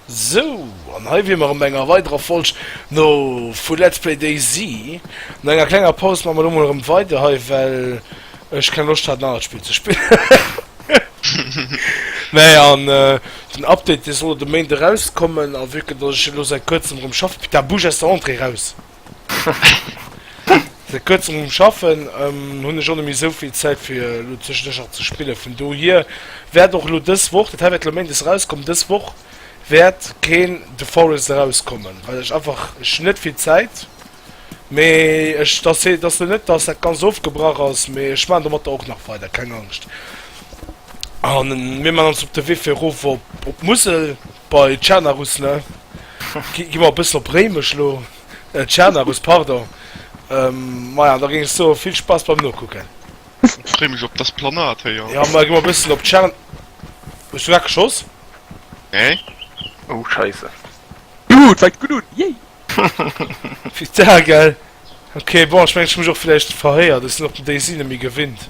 Sou, an hei wier mer erëm bei enger weiderer Folg no vu Let's Play DayZ. No enger klenger Paus maache mer elo mol erëm weider hei, well ech keng Loscht hat en anert Spill ze spillen. Mä an den Update dee soll elo de Méint erauskommen, a vu que dass ech elo säit kuerzem erëm schaffe, putain bouge aus der Entrée raus! Säit kuerzem um Schaffen hunn ech och net méi esou vill Zäit fir elo zwischendurch nach ze spillen. Vun dohier wäert och elo dës Woch, dat hei wäert elo Méindes erauskommen, dës Woch wäert keen The Forest erauskommen, well ech einfach, ech hunn net vill Zäit. Mee ech, dass hee, dass elo net, dass dat Ganzt ofgebrach ass, mee ech maachen domatter och nach weider, keng Angscht. A mir maachen ons op de Wee fir erof op, op d'Musel. Bei Tschernarus, ne? Gi mer e bëssen op Réimech lo. Tschernarus, pardon. Maja, da géing ech soen, vill Spaass beim Nokucken. Ech freeë mech op d'Esplanade héi, jo. Jo, ma gi mer e bëssen op Tschern. Hues du grad geschoss? Nee. Oh, Scheisse. Gutt, fänkt gutt un, yay! Vital, gell? Ok, bon, ech mengen, ech hu mech och villäicht verhéiert. Ech sinn och den Daisy net méi gewinnt.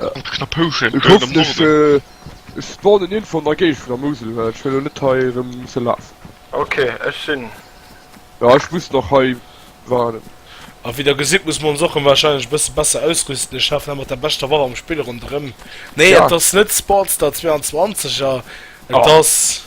Ech hoffen ech spawnen nirgendwo an der Géigend vun der Mousel, well ech wëll elo net hei erëm musse lafen. Ok, ech sinn. Jo, ech muss nach hei waarden. A wéi der gesitt, muss mer ons och wahrscheinlech e bësse besser ausrüsten. Ech lafen hei mat der beschter Waff am Spill ronderëm. Nee, et ass net Sportstar 22 a et ass.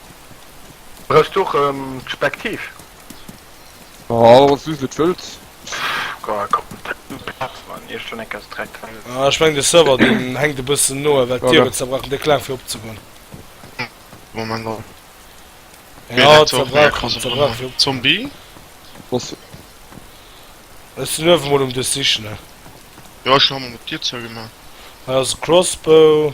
Brauchst du och en Spektiv? Oh, wéi se et wëllt. Ech meng de Server deen hänkt e bëssen no well d'Kabel zerbrach an de Klang fir opzegoen. Moment mol. Jo zerbrach zerbrach fir op. Zombie? Boss. Ech sinn uewe mol um dech sichen ne. Jo ech hunn ëmmer mat Dir zougemaach. Hei ass e Crossbow.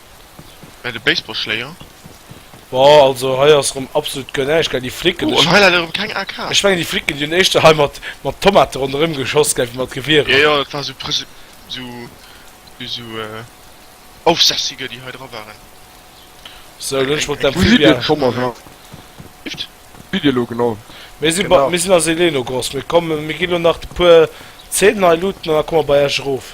Bei de Baseballschléier? Boah, also hei ass rem absolut guer näischt gell, déi Flicken, Oh, an hei leider rem keng AK. ech mengen déi Flicken déi hunn éischter hei mat mat Tomate ronderem geschoss gell wéi mat Gewierer. Jo, jo, dat war sou prese sou sou Aufsässiger déi hei dra waren. Sou, lo hunn ech mol Wou sidd dir d'Amphibia. Thomas an Anne? Bift? Wou sidd dir elo genau? Mir si bei, Genau. mir sinn a Seleenogrosk, mir kommen, mir gi lo nach de puer Zeenen hei looten an da komme mer bei iech erof.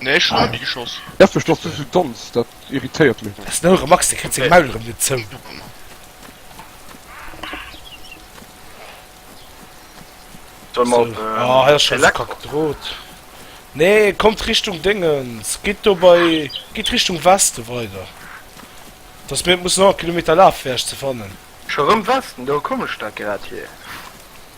Nee, ech hun nach ni geschoss. Def duerch dass du sou danz, dat irritéiert mech. Ass no erem Max, dee kritt seng Maul erem net zou. Soll mer op Elektro? Nee, kommt Richtung Déngens, gitt do bei, gitt Richtung Westen weider, dass mir net mussen 100 Kilometer lafen fir iech ze fannen. Scho rem Westen, do kommen ech da grad hier.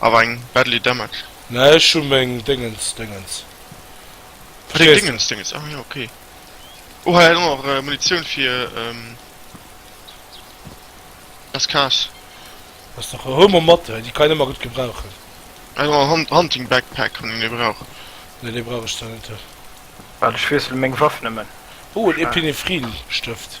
Awer eng badly damaged. Nee ech hu meng Déngens Déngens. Ah deng Déngens Déngens, ah jo ok. Oh hei ass och Munitioun fir SKS. Ass dach e Homo mat hei, déi kann een ëmmer gutt gebrauchen. Hei ass och en Hunting Backpack wann een ee brauch. Nee dee brauch ech zwar net. Waart ech wiessele meng Waff nëmmen. Oh en Epinephrin Stëft.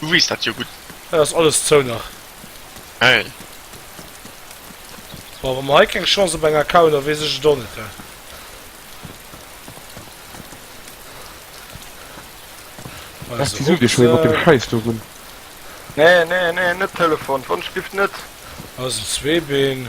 Du wees dat jo gutt. Et ass alles zou nach. Hey. Boah, wa mer hei keng Chance op eng Account a wees ech et och net hu. Lass die Sude schon op dem Scheiß do run. Nee, nee, nee, net Telefon, d'Wonschgift net. Ass en Zweebeen.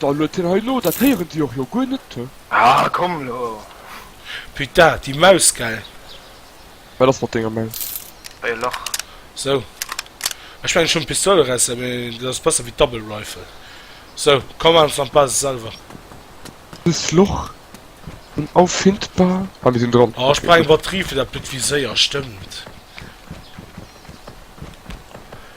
Dann huet hien hei lo, dat héieren déi och jo guer net, hö? Ah, komm lo! Putain, déi Maus, gell? Wat ass mat denger Maus? Bei e Lach. Sou. Ech mengen, ech hunn d'Pistouleresser, mee dat ass besser wéi d'Double Rifle. Sou, komm, maan ech dann d'Basis selwer. Dëst Loch unauffindbar. Ah, mir sinn dran. Ah, ech brauch eng Batterie fir dat blëtt Viséier, stëmmt.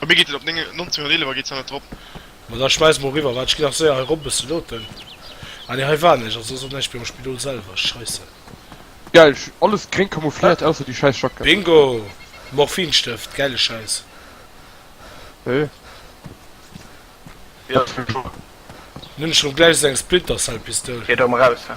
A mir geet et op 1911 geet se net drop. Bon da schmeiss mol riwwer, waat ech gin nach séier hei rop bëssen looten, ah nee hei war näischt, also ass och näischt méi am Spidol selwer, scheisse. Geil, alles gréng camoufliert ausser déi scheiss Jackett. Bingo! Morphinstëft, gäile Schäiss. Hee. Wéi alt war ech do? Nun ech rem gläich sou eng Splinter Cell Pistoul. Geet och emmer raus, he.